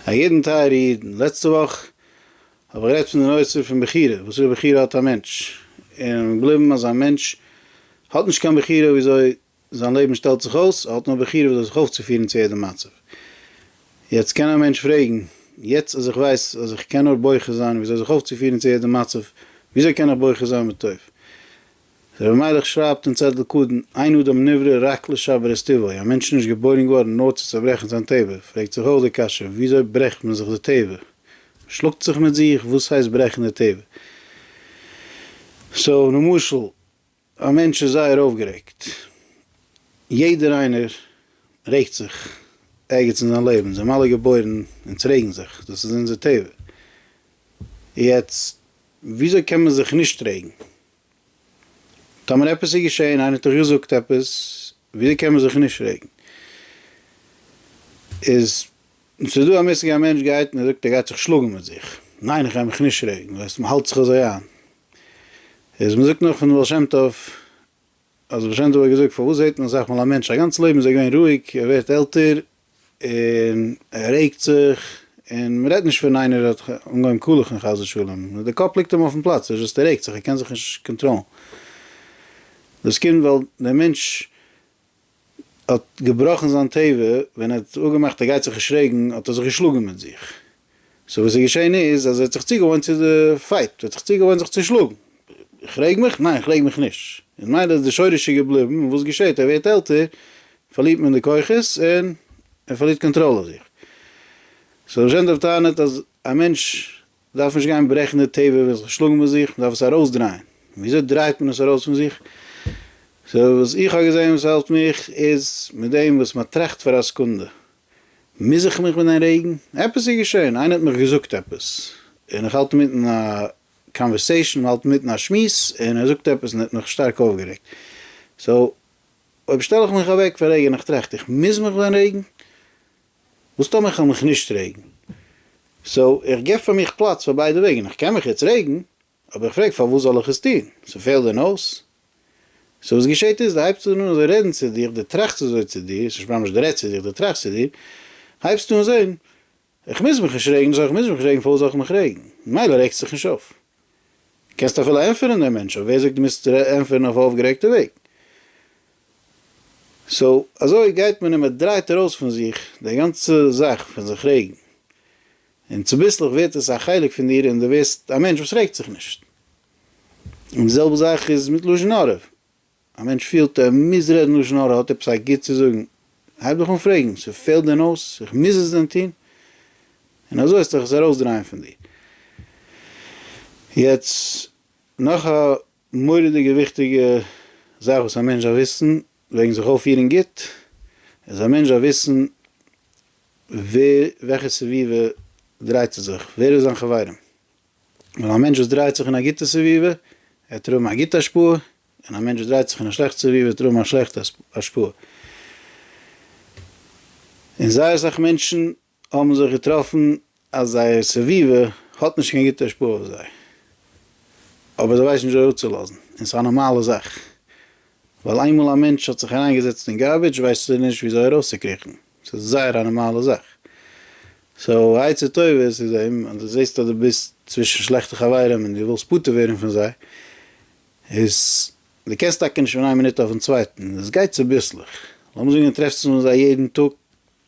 א ידען טייערע אידן, לעצטע וואך האב איך גערעדט פון די נושא פון בחירה, וואסערע בחירה האט א מענטש, און מיר געבליבן אז א מענטש האט נישט קיין בחירה וויאזוי זיין לעבן שטעלט זיך אויס, ער האט נאר בחירה וויאזוי זיך אויפצופירן צו יעדע מצב. יעצט קען א מענטש פרעגן, יעצט אז איך ווייס אז איך קען נאר בוחר זיין וויאזוי זיך אויפצופירן צו יעדע מצב, וויאזוי קען איך בוחר זיין בטוב? רבי מיילעך שרייבט אין צעטל קדן, אין אדם נברא רק לשבר את טבעו, א מענטש איז נישט געבוירן געווארן נאר צו צעברעכן זיין טבע, פרעגט זיך אויך די קשיא, וויאזוי ברעכט מען זיך די טבע? מען שלאגט זיך מיט זיך? וואס הייסט ברעכן די טבע? סאו למשל, א מענטש איז זייער אויפגערעגט, יעדער איינער רעגט זיך ערגעץ אין זיין לעבן, אונז זעמיר אלע געבוירן אונז רעגן זיך, דאס איז אונזער טבע, יעצט וויאזוי קען מען זיך נישט רעגן? טאמער עפעס איז געשעהן, איינער האט דיך געזאגט עפעס, וויאזוי קען מען זיך נישט רעגן? איז ס'איז דא א מושג א מענטש גייט און ער זאגט ער גייט זיך שלאגן מיט זיך, ניין איך גיי מיך נישט רעגן, ווייסט מ'האלט זיך אזוי איין, איז מ'זאגט נאך פון די בעל שם טוב, אז בעשט האט געזאגט פארוואס זעט מען אסאך מאל א מענטש א גאנץ לעבן איז ער געווען רואיג ער ווערט עלטער און ער רעגט זיך און מען רעדט נישט פון איינער וואס האט אנגעהויבן קאלעכן חס ושלום נאר די קאפ ליגט אים אויפן פלאץ ער איז זשאסט ער רעגט זיך ער קען זיך נישט קאנטראלן דאס קומט ווייל דער מענטש האט געבראכן זיין טבע ווען ער האט אפגעמאכט ער גייט זיך נישט רעגן האט ער זיך געשלאגן מיט זיך. סאו וואס איז געשען איז אז ער האט זיך צוגעוואוינט צו די פייט, ער האט זיך צוגעוואוינט זיך צו שלאגן, איך רעג מיך? ניין איך רעג מיך נישט, און ממילא איז די שורש איז געבליבן, און וואס געשעט ער ווערט עלטער פארלירט מען די כוחות און ער פארלירט קאנטראל אויף זיך. סאו ר' יענטא האט טענה'ט אז א מענטש דארף נישט גיין ברעכן די טבע ווען זיך שלאגן מיט זיך, מען דארף עס ארויסדרייען, ווי אזוי דרייט מען עס ארויס פון זיך? סאו וואס איך האב געזען וואס העלפט מיך איז מיט דעם וואס מען טראכט פאר א סעקונדע, מוז איך מיך מיט דעם רעגן? עפעס איז געשען, איינער האט מיך געזאגט עפעס, און איך האלט אינמיטן א קאנווערסעישן, מען האלט אינמיטן א שמועס, און ער זאגט עפעס און האט מיך שטארק אויפגערעגט, סאו אויב שטעל איך מיך אוועק פון רעגן, איך טראכט איך מוז מיך ווען רעגן? וואס טאמער איך וועל מיך נישט רעגן? סאו איך געב פאר מיך פלאץ פאר ביידע וועגן, איך קען מיך יעצט רעגן, האב איך געפרעגט פארוואס זאל איך עס טון? ס'פעלט דען אויס? סאו וואס געשעהט איז, די הייבסט אן אזוי רעדן צו דיך, די טראכסט אזוי צו דיר, ס'נישט ממש די רעדסט צו דיך, די טראכסט צו דיר, הייבסט אן זעהן, איך מוז מיך נישט רעגן, סאו איך מוז מיך רעגן פארוואס זאל איך מיך רעגן? ממילא רעגסט זיך נישט אויף. קענסט אפילו ענטפערן דעם מענטש, אבער ווער זאגט דו מוזט ענטפערן אויף א אויפגערעגטע וועג? סאו אזוי גייט מען און מען דרייט ארויס פון זיך די גאנצע זאך פון זיך רעגן. און צוביסלעך ווערט עס א חלק פון דיר און דו ווערסט א מענטש וואס רעגט זיך נישט. און די זעלבע זאך איז מיט לשון הרע. א מענטש פילט ער מוז רעדן לשון הרע, ער האט עפעס א גוט צו זאגן, הייב דיך אן פרעגן, ס'פעלט דען אויס? איך מוז עס דען טון? און אזוי וועסטו דיך עס ארויסדרייען פון דיר. יעצט נאך א מורא'דיגע וויכטיגע זאך וואס א מענטש דארף וויסן, וועגן זיך אויפפירן גוט, איז א מענטש דארף וויסן ווער וועלכע סביבה דרייט ער זיך, ווער איז זיין חברים, ווייל א מענטש וואס דרייט זיך אין א גוטע סביבה וועט ער האבן א גוטע השפעה, און א מענטש וואס דרייט זיך אין א שלעכטע סביבה וועט ער האבן א שלעכטע השפעה, און זייער אסאך מענטשן האבן זיך געטראפן אז זייער סביבה האט נישט קיין גוטע השפעה אויף זיי, אבער זיי ווייסן נישט זיי אפצולאזן, און ס'איז א נארמאלע זאך, ווייל איינמאל א מענטש האט זיך אריינגעזעצט אין גארבידזש ווייסט ער נישט וויאזוי ארויסצוקריכן, ס'איז זייער א נארמאלע זאך, סאו עצה טובה איז צו זען אז דו זעסט אז דו ביסט צווישן שלעכטע חברים און דו ווילסט פטור ווערן פון זיי, איז דו קענסט טאקע נישט פון איין מינוט אויפן צווייטן, עס גייט צוביסלעך, לאמיר זאגן דו טרעפסט זיך מיט זיי יעדן טאג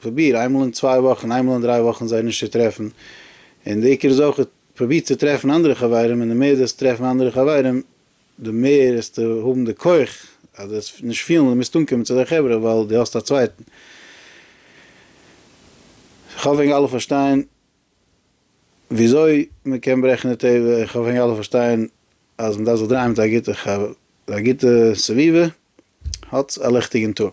פרוביר איינמאל אין צוויי וואכן איינמאל אין דריי וואכן זיי נישט צו טרעפן, און די עיקר איז אויך פרוביר צו טרעפן אנדערע חברים און די מער דו עסט טרעפן אנדערע חברים די מער עסטו האבן די כח אז דו עסט נישט פילן אז דו מוזט אנקומען צו אזא חברה ווייל דו האסט א צווייטן. כ'האף ווען אלע פארשטיין וויאזוי מען קען ברעכן די טבע, און כ'האף ווען אלע פארשטיין אז מען דארף זיך דרייען מיט א גוטע חברה, א גוטע סביבה האט א ליכטיגן טאג.